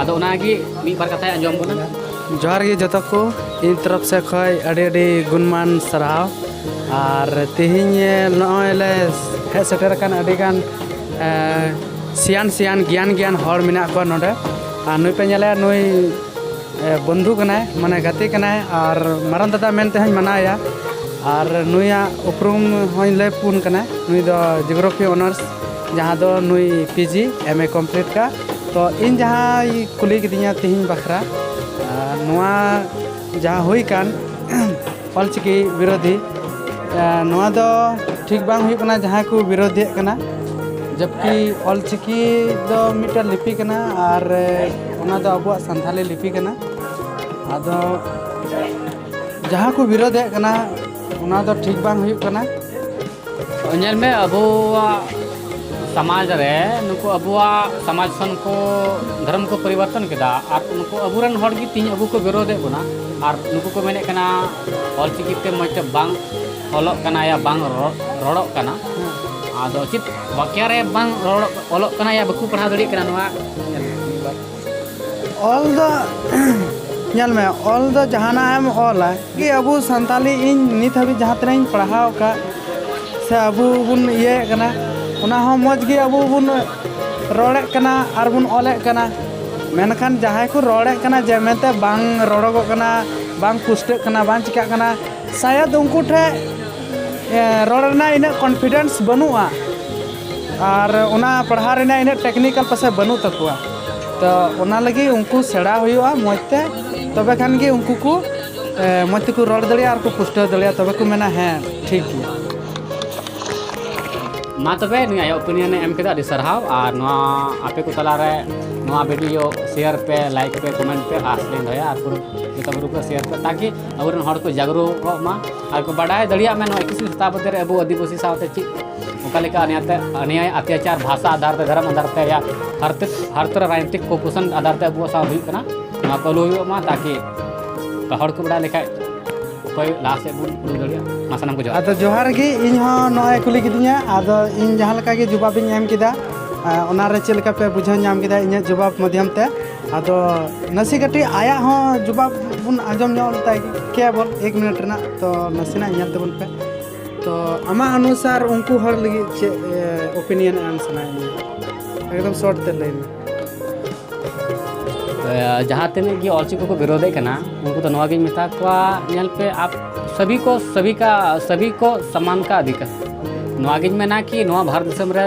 ᱟᱫᱚ ᱚᱱᱟᱜᱮ ᱢᱤᱫ ᱵᱟᱨ ᱠᱟᱛᱷᱟᱭ ᱟᱸᱡᱚᱢ ᱵᱚᱱᱟ ᱡᱚᱦᱟᱨ ᱜᱮ ᱡᱚᱛᱚ ᱠᱚ ᱤᱧ ᱛᱚᱨᱚᱯ ᱥᱮᱫ ᱠᱷᱚᱱ ᱟᱹᱰᱤ ᱟᱹᱰᱤ ᱜᱩᱱᱢᱟᱱ ᱥᱟᱨᱦᱟᱣ ᱟᱨ ᱛᱮᱦᱮᱧ ᱱᱚᱜᱼᱚᱭ ᱞᱮ ᱦᱮᱡ ᱥᱮᱴᱮᱨ ᱟᱠᱟᱱ ᱟᱹᱰᱤᱜᱟᱱ ᱥᱤᱭᱟᱱ ᱥᱤᱭᱟᱱ ᱜᱮᱭᱟᱱ ᱜᱮᱭᱟᱱ ᱦᱚᱲ ᱢᱮᱱᱟᱜ ᱠᱚᱣᱟ ᱱᱚᱰᱮ ᱟᱨ ᱱᱩᱭ ᱯᱮ ᱧᱮᱞᱮᱭᱟ ᱱᱩᱭ ᱵᱚᱱᱫᱷᱩ ᱠᱟᱱᱟᱭ ᱢᱟᱱᱮ ᱜᱟᱛᱮ ᱠᱟᱱᱟᱭ ᱟᱨ ᱢᱟᱨᱟᱝ ᱫᱟᱫᱟ ᱢᱮᱱᱛᱮ ᱦᱚᱧ ᱢᱟᱱᱟᱣᱮᱭᱟ ᱟᱨ ᱱᱩᱭᱟᱜ ᱩᱯᱨᱩᱢ ᱦᱚᱧ ᱞᱟᱹᱭ ᱯᱩᱱ ᱠᱟᱱᱟ ᱱᱩᱭ ᱫᱚ ᱡᱤᱭᱳᱜᱨᱟᱯᱷᱤ ᱚᱱᱟᱨᱥ ᱡᱟᱦᱟᱸ ᱫᱚ ᱱᱩᱭ ᱯᱤᱡᱤ ᱮᱢ ᱮ ᱠᱚᱢᱯᱞᱤᱴ ᱠᱟᱜᱼᱟ ᱛᱚ ᱤᱧ ᱡᱟᱦᱟᱸ ᱠᱩᱞᱤ ᱠᱤᱫᱤᱧᱟ ᱛᱤᱦᱤᱧ ᱵᱟᱠᱷᱨᱟ ᱱᱚᱣᱟ ᱡᱟᱦᱟᱸ ᱦᱩᱭ ᱠᱟᱱ ᱚᱞᱪᱤᱠᱤ ᱵᱤᱨᱳᱫᱷᱤ ᱱᱚᱣᱟ ᱫᱚ ᱴᱷᱤᱠ ᱵᱟᱝ ᱦᱩᱭᱩᱜ ᱠᱟᱱᱟ ᱡᱟᱦᱟᱸᱭ ᱠᱚ ᱵᱤᱨᱳᱫᱷᱤᱭᱮᱫ ᱠᱟᱱᱟ ᱡᱚᱵᱠᱤ ᱚᱞᱪᱤᱠᱤ ᱫᱚ ᱢᱤᱫᱴᱮᱱ ᱞᱤᱯᱤ ᱠᱟᱱᱟ ᱟᱨ ᱚᱱᱟ ᱫᱚ ᱟᱵᱚᱣᱟᱜ ᱥᱟᱱᱛᱷᱟᱞᱤ ᱞᱤᱯᱤ ᱠᱟᱱᱟ ᱟᱫᱚ ᱡᱟᱦᱟᱸ ᱠᱚ ᱵᱤᱨᱳᱫᱷᱮᱫ ᱠᱟᱱᱟ ᱚᱱᱟ ᱫᱚ ᱴᱷᱤᱠ ᱵᱟᱝ ᱦᱩᱭᱩᱜ ᱠᱟᱱᱟ ᱧᱮᱞ ᱢᱮ ᱟᱵᱚᱣᱟᱜ ᱥᱚᱢᱟᱡᱽ ᱨᱮ ᱱᱩᱠᱩ ᱟᱵᱚᱣᱟᱜ ᱥᱚᱢᱟᱡᱽ ᱠᱷᱚᱱ ᱠᱚ ᱫᱷᱚᱨᱚᱢ ᱠᱚ ᱯᱚᱨᱤᱵᱚᱨᱛᱚᱱ ᱠᱮᱫᱟ ᱟᱨ ᱱᱩᱠᱩ ᱟᱵᱚᱨᱮᱱ ᱦᱚᱲ ᱜᱮ ᱛᱤᱦᱤᱧ ᱟᱵᱚ ᱠᱚ ᱵᱤᱨᱳᱫᱮᱫ ᱵᱚᱱᱟ ᱟᱨ ᱱᱩᱠᱩ ᱠᱚ ᱢᱮᱱᱮᱫ ᱠᱟᱱᱟ ᱚᱞ ᱪᱤᱠᱤ ᱛᱮ ᱢᱚᱡᱽ ᱛᱮ ᱵᱟᱝ ᱚᱞᱚᱜ ᱠᱟᱱᱟ ᱭᱟ ᱵᱟᱝ ᱨᱚᱲᱚᱜ ᱠᱟᱱᱟ ᱟᱫᱚ ᱪᱮᱫ ᱵᱟᱠᱮᱭᱟ ᱨᱮ ᱵᱟᱝ ᱨᱚᱲᱚᱜ ᱚᱞᱚᱜ ᱠᱟᱱᱟ ᱭᱟ ᱵᱟᱠᱚ ᱯᱟᱲᱦᱟᱣ ᱫᱟᱲᱮᱭᱟᱜ ᱠᱟᱱᱟ ᱱᱚᱣᱟ ᱚᱞ ᱫᱚ ᱧᱮᱞ ᱢᱮ ᱚᱞ ᱫᱚ ᱡᱟᱦᱟᱱᱟᱜ ᱮᱢ ᱚᱞᱟ ᱜᱮ ᱟᱵᱚ ᱥᱟᱱᱛᱟᱞᱤ ᱤᱧ ᱱᱤᱛ ᱦᱟᱹᱵᱤᱡ ᱡᱟᱦᱟᱸ ᱛᱤᱱᱟᱹᱜ ᱤᱧ ᱯᱟᱲᱦᱟᱣ ᱟᱠᱟᱫ ᱥᱮ ᱟᱵᱚ ᱵᱚᱱ ᱤᱭᱟᱹᱭᱮᱫ ᱠᱟᱱᱟ ᱚᱱᱟ ᱦᱚᱸ ᱢᱚᱡᱽ ᱜᱮ ᱟᱵᱚ ᱵᱚᱱ ᱨᱚᱲᱮᱫ ᱠᱟᱱᱟ ᱟᱨ ᱵᱚᱱ ᱚᱞᱮᱫ ᱠᱟᱱᱟ ᱢᱮᱱᱠᱷᱟᱱ ᱡᱟᱦᱟᱸᱭ ᱠᱚ ᱨᱚᱲᱮᱫ ᱠᱟᱱᱟ ᱡᱮ ᱢᱮᱱᱛᱮ ᱵᱟᱝ ᱨᱚᱲᱚᱜᱚᱜ ᱠᱟᱱᱟ ᱵᱟᱝ ᱯᱩᱥᱴᱟᱹᱜ ᱠᱟᱱᱟ ᱵᱟᱝ ᱪᱤᱠᱟᱹᱜ ᱠᱟᱱᱟ ᱥᱟᱭᱟᱫ ᱩᱱᱠᱩ ᱴᱷᱮᱱ ᱨᱚᱲ ᱨᱮᱱᱟᱜ ᱤᱱᱟᱹᱜ ᱠᱚᱱᱯᱷᱤᱰᱮᱱᱥ ᱵᱟᱹᱱᱩᱜᱼᱟ ᱟᱨ ᱚᱱᱟ ᱯᱟᱲᱦᱟᱣ ᱨᱮᱱᱟᱜ ᱤᱱᱟᱹᱜ ᱴᱮᱠᱱᱤᱠᱟᱞ ᱯᱟᱥᱮᱡ ᱵᱟᱹᱱᱩᱜ ᱛᱟᱠᱚᱣᱟ ᱛᱚ ᱚᱱᱟ ᱞᱟᱹᱜᱤᱫ ᱩᱱᱠᱩ ᱥᱮᱬᱟ ᱦᱩᱭᱩᱜᱼᱟ ᱢᱚᱡᱽ ᱛᱮ ᱛᱚᱵᱮ ᱠᱷᱟᱱ ᱜᱮ ᱩᱱᱠᱩ ᱠᱚ ᱢᱚᱡᱽ ᱛᱮᱠᱚ ᱨᱚᱲ ᱫᱟᱲᱮᱭᱟᱜᱼᱟ ᱟᱨ ᱠᱚ ᱯᱩᱥᱴᱟᱹᱣ ᱫᱟᱲᱮᱭᱟᱜᱼᱟ ᱛᱚᱵᱮ ᱠᱚ ᱢᱮᱱᱟ ᱦᱮᱸ ᱴᱷᱤᱠ ᱜᱮᱭᱟ ᱢᱟ ᱛᱚᱵᱮ ᱱᱩᱭ ᱟᱭᱟᱜ ᱚᱯᱤᱱᱤᱭᱚᱱ ᱮᱢ ᱠᱮᱫᱟ ᱟᱹᱰᱤ ᱥᱟᱨᱦᱟᱣ ᱟᱨ ᱱᱚᱣᱟ ᱟᱯᱮ ᱠᱚ ᱛᱟᱞᱟᱨᱮ ᱱᱚᱣᱟ ᱵᱷᱤᱰᱤᱭᱳ ᱥᱮᱭᱟᱨ ᱯᱮ ᱞᱟᱭᱤᱠ ᱯᱮ ᱠᱚᱢᱮᱱᱴ ᱯᱮ ᱟᱥ ᱞᱤᱧ ᱫᱚᱦᱚᱭᱟ ᱟᱨ ᱯᱩᱨᱟᱹ ᱡᱚᱛᱚ ᱜᱨᱩᱯ ᱨᱮ ᱥᱮᱭᱟᱨ ᱯᱮ ᱛᱟᱠᱤ ᱟᱵᱚᱨᱮᱱ ᱦᱚᱲ ᱠᱚ ᱡᱟᱜᱽᱨᱩᱠᱚᱜ ᱢᱟ ᱟᱨ ᱠᱚ ᱵᱟᱰᱟᱭ ᱫᱟᱲᱮᱭᱟᱜ ᱢᱮ ᱱᱚᱣᱟ ᱮᱠᱤᱥᱤ ᱥᱚᱛᱟᱵᱫᱤ ᱨᱮ ᱟᱵᱚ ᱟᱹᱫᱤᱵᱟᱹᱥᱤ ᱥᱟᱶᱛᱮ ᱪᱮᱫ ᱚᱠᱟ ᱞᱮᱠᱟ ᱚᱱᱭᱟᱭ ᱟᱛᱭᱟᱪᱟᱨ ᱵᱷᱟᱥᱟ ᱟᱫᱷᱟᱨ ᱛᱮ ᱫᱷᱚᱨᱚᱢ ᱟᱫᱷᱟᱨ ᱛᱮ ᱦᱟᱨᱛᱤᱠ ᱦᱟᱨᱛ ᱨᱟᱡᱽᱱᱤᱛᱤᱠ ᱠᱚᱯᱩᱥᱚᱱ ᱟᱫᱷᱟᱨ ᱛᱮ ᱟᱵᱚ ᱥᱟᱶ ᱦᱩᱭᱩᱜ ᱠᱟᱱᱟ ᱱᱚᱣᱟ ᱠᱚ ᱟᱞᱚ ᱦᱩᱭᱩᱜ ᱢᱟ ᱛᱟᱠᱤ ᱦᱚᱲ ᱠᱚ ᱵᱟᱰᱟᱭ ᱞᱮᱠᱷᱟᱡ ᱚᱠᱚᱭ ᱞᱟᱦᱟ ᱥᱮᱫ ᱵᱚᱱ ᱩᱰᱩᱠ ᱫᱟᱲᱮᱭᱟᱜᱼᱟ ᱢᱟ ᱥᱟᱱᱟᱢ ᱠᱚ ᱡᱚᱦᱟᱨ ᱟᱫᱚ ᱡᱚᱦᱟᱨ ᱜᱮ ᱤᱧ ᱦᱚᱸ ᱱᱚᱜᱼᱚᱭ ᱠᱩᱞᱤ ᱠᱤᱫᱤᱧᱟ ᱟᱫᱚ ᱤᱧ ᱡᱟᱦᱟᱸ ᱞᱮᱠᱟ ᱜᱮ ᱡᱚᱵᱟᱵᱤᱧ ᱮᱢ ᱠᱮᱫᱟ ᱚᱱᱟᱨᱮ ᱪᱮᱫ ᱞᱮᱠᱟ ᱯᱮ ᱵᱩᱡᱷᱟᱹᱣ ᱧᱟᱢ ᱠᱮᱫᱟ ᱤᱧᱟᱹᱜ ᱡᱚᱵᱟᱵ ᱢᱟᱫᱽᱫᱷᱚᱢ ᱛᱮ ᱟᱫᱚ ᱱᱟᱥᱮ ᱠᱟᱹᱴᱤᱡ ᱟᱭᱟᱜ ᱦᱚᱸ ᱡᱚᱵᱟᱵ ᱵᱚᱱ ᱟᱸᱡᱚᱢ ᱧᱚᱜ ᱞᱮᱛᱟᱭ ᱠᱮᱭᱟ ᱵᱚᱱ ᱮᱠ ᱢᱤᱱᱤᱴ ᱨᱮᱱᱟᱜ ᱛᱚ ᱱᱟᱥᱮᱱᱟᱜ ᱧᱮᱞ ᱛᱟᱵᱚᱱ ᱯᱮ ᱛᱚ ᱟᱢᱟᱜ ᱚᱱᱩᱥᱟᱨ ᱩᱱᱠᱩ ᱦᱚᱲ ᱞᱟᱹᱜᱤᱫ ᱪᱮᱫ ᱚᱯᱤᱱᱤᱭᱚᱱ ᱮᱢ ᱥᱟᱱᱟᱭᱮᱫ ᱢᱮᱭᱟ ᱮᱠᱫᱚᱢ ᱥᱚᱨᱴ ᱛᱮ ᱞᱟᱹᱭ ᱢᱮ ᱡᱟᱦᱟᱸ ᱛᱤᱱᱟᱹᱜ ᱜᱮ ᱚᱞᱪᱤᱠᱤ ᱠᱚ ᱵᱤᱨᱳᱫᱮᱫ ᱠᱟᱱᱟ ᱩᱱᱠᱩ ᱫᱚ ᱱᱚᱣᱟ ᱜᱤᱧ ᱢᱮᱛᱟ ᱠᱚᱣᱟ ᱧᱮᱞ ᱯᱮ ᱟᱯ ᱥᱟᱵᱤ ᱠᱚ ᱥᱟᱵᱤ ᱠᱟ ᱥᱟᱵᱤ ᱠᱚ ᱥᱟᱢᱟᱱ ᱠᱟ ᱟᱫᱷᱤᱠᱟᱨ ᱱᱚᱣᱟ ᱜᱤᱧ ᱢᱮᱱᱟ ᱠᱤ ᱱᱚᱣᱟ ᱵᱷᱟᱨᱚᱛ ᱫᱤᱥᱚᱢ ᱨᱮ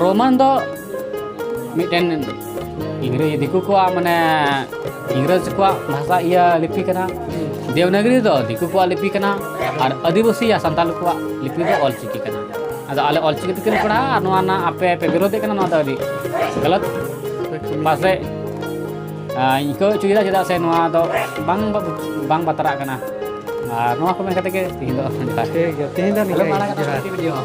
ᱨᱳᱢᱟᱱ ᱫᱚ ᱢᱤᱫᱴᱮᱱ ᱤᱝᱨᱮᱡᱽ ᱫᱤᱠᱩ ᱠᱚᱣᱟᱜ ᱢᱟᱱᱮ ᱤᱝᱨᱮᱡᱽ ᱠᱚᱣᱟᱜ ᱵᱷᱟᱥᱟ ᱤᱭᱟᱹ ᱞᱤᱯᱤ ᱠᱟᱱᱟ ᱫᱮᱣᱱᱟᱜᱨᱤ ᱫᱚ ᱫᱤᱠᱩ ᱠᱚᱣᱟᱜ ᱞᱤᱯᱤ ᱠᱟᱱᱟ ᱟᱨ ᱟᱹᱫᱤᱵᱟᱹᱥᱤ ᱭᱟ ᱥᱟᱱᱛᱟᱲ ᱠᱚᱣᱟᱜ ᱞᱤᱯᱤ ᱫᱚ ᱚᱞ ᱪᱤᱠᱤ ᱠᱟᱱᱟ ᱟᱫᱚ ᱟᱞᱮ ᱚᱞ ᱪᱤᱠᱤ ᱛᱮᱜᱮ ᱯᱟᱲᱦᱟᱜᱼᱟ ᱟᱨ ᱱᱚᱣᱟ ᱨᱮᱱᱟᱜ ᱟᱯᱮ ᱯᱮ ᱵᱤᱨᱳᱫᱮᱫ ᱠᱟᱱᱟ ᱱᱚᱣᱟ ᱫᱚ ᱟᱹᱰᱤ ᱜᱟᱞᱟᱛ ᱯᱟᱥᱮᱡ ᱟᱹᱭᱠᱟᱹᱣ ᱦᱚᱪᱚᱭᱮᱫᱟ ᱪᱮᱫᱟᱜ ᱥᱮ ᱱᱚᱣᱟ ᱫᱚ ᱵᱟᱝ ᱵᱟᱝ ᱵᱟᱛᱨᱟᱜ ᱠᱟᱱᱟ ᱟᱨ ᱱᱚᱣᱟ ᱠᱚ ᱢᱮᱱ ᱠᱟᱛᱮ ᱜᱮ ᱛᱮᱦᱮᱧ ᱫᱚ ᱴᱷᱤᱠ ᱜᱮᱭᱟ ᱛᱮᱦᱮᱧ ᱫᱚ ᱱᱤᱝᱠᱟᱹ ᱜᱮ ᱡᱚᱦᱟᱨ